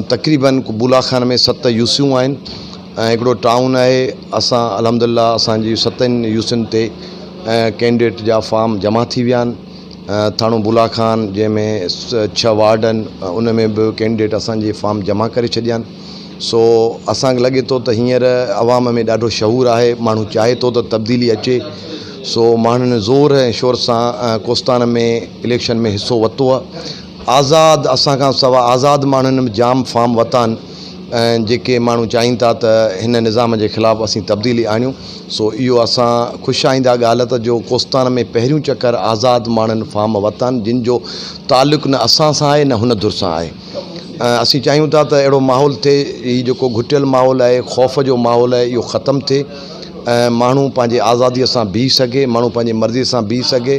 تقريباً بولا خان ۾ ست يوسيون آهن ۽ هڪڙو ٽائون آهي اسان الحمد لله اسان جي ستن يوسين تي ڪينڊيڊيٽ جا فارم جمع ٿي ويا آهن ٿاڻو بولا خان جنهن ۾ ڇهه وارڊ آهن ان ۾ به ڪينڊيڊيٽ اسان جي فارم جمع ڪري ڇڏيا آهن سو اسان کي لڳي ٿو ته هينئر عوام ۾ ڏاڍو شعور آهي ماڻهو چاهي ٿو ته تبديلي اچي سو ماڻهن زور ۽ شور سان ڪوستان ۾ اليڪشن ۾ حصو ورتو آهي آزاد اسان کان سوا آزاد ماڻهن به جام فارم ورتا آهن ۽ جيڪي ماڻهو چاهين ٿا ته هن نظام جي خلاف اسين تبديلي آڻيون سو اهو اسان خوش آئنده ڳالهه ته جو ڪوستان ۾ پهريون چڪر آزاد ماڻهن فارم ورتا آهن جن جو تعلق نه اسان سان آهي نه هن ڌر سان آهي اسين چاهيون ٿا ته اهڙو ماحول ٿئي هي جيڪو گهٽيل ماحول آهي خوف جو ماحول آهي اهو ختم ٿئي ۽ ماڻهو پنهنجي آزادي سان بيهي سگهي ماڻهو پنهنجي مرضي سان بيهي سگهي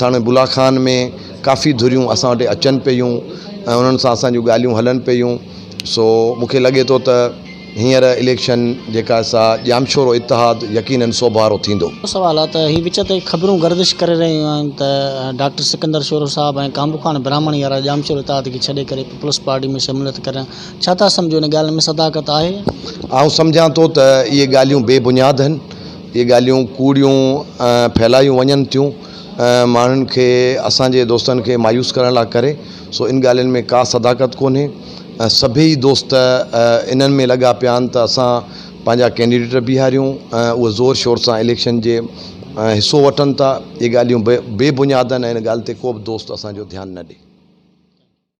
ٿاڻي بلا خان ۾ ڪافي ڌريون اسان وٽ اچن پيون ۽ انهن سان اسان جون ڳالهيون هلن پيون سو مونکي لڳي ٿو ته هينئر اليڪشن جيڪا سا ڄامشورو اتحاد يقينن سوڀارو ٿيندو. ٻيو سوال آهي ته هي وچ تي خبرون گردش ڪري رهيون آهن ته ڊاڪٽر سڪندر شورو صاحب ۽ ڪانبوخان براهمڻ يارا ڄامشورو اتحاد کي ڇڏي ڪري پيپلز پارٽي ۾ شموليت ڪريا ڇا ٿا سمجهو ان ڳالهه ۾ صداقت آهي؟ آئون سمجهان ٿو ته اهي ڳالهيون بي بنياد هن. اهي ڳالهيون ڪوڙيون ڦهلايون وڃن ٿيون ۽ ماڻهن کي اسان جي دوستن کي مايوس ڪرڻ لاء ڪري سو ان ڳالهين ۾ ڪا صداقت ڪونهي ۽ سڀيئي دوست انهن ۾ لڳا پيا آهن ته اسان پنهنجا ڪينڊيڊيٽ بيهاريون ۽ اهي زور شور سان اليڪشن جي حصو وٺن ٿا اهي ڳالهيون بي بنياد آهن ۽ ان ڳالهه تي ڪو به دوست اسان جو ڌيان نه ڏي.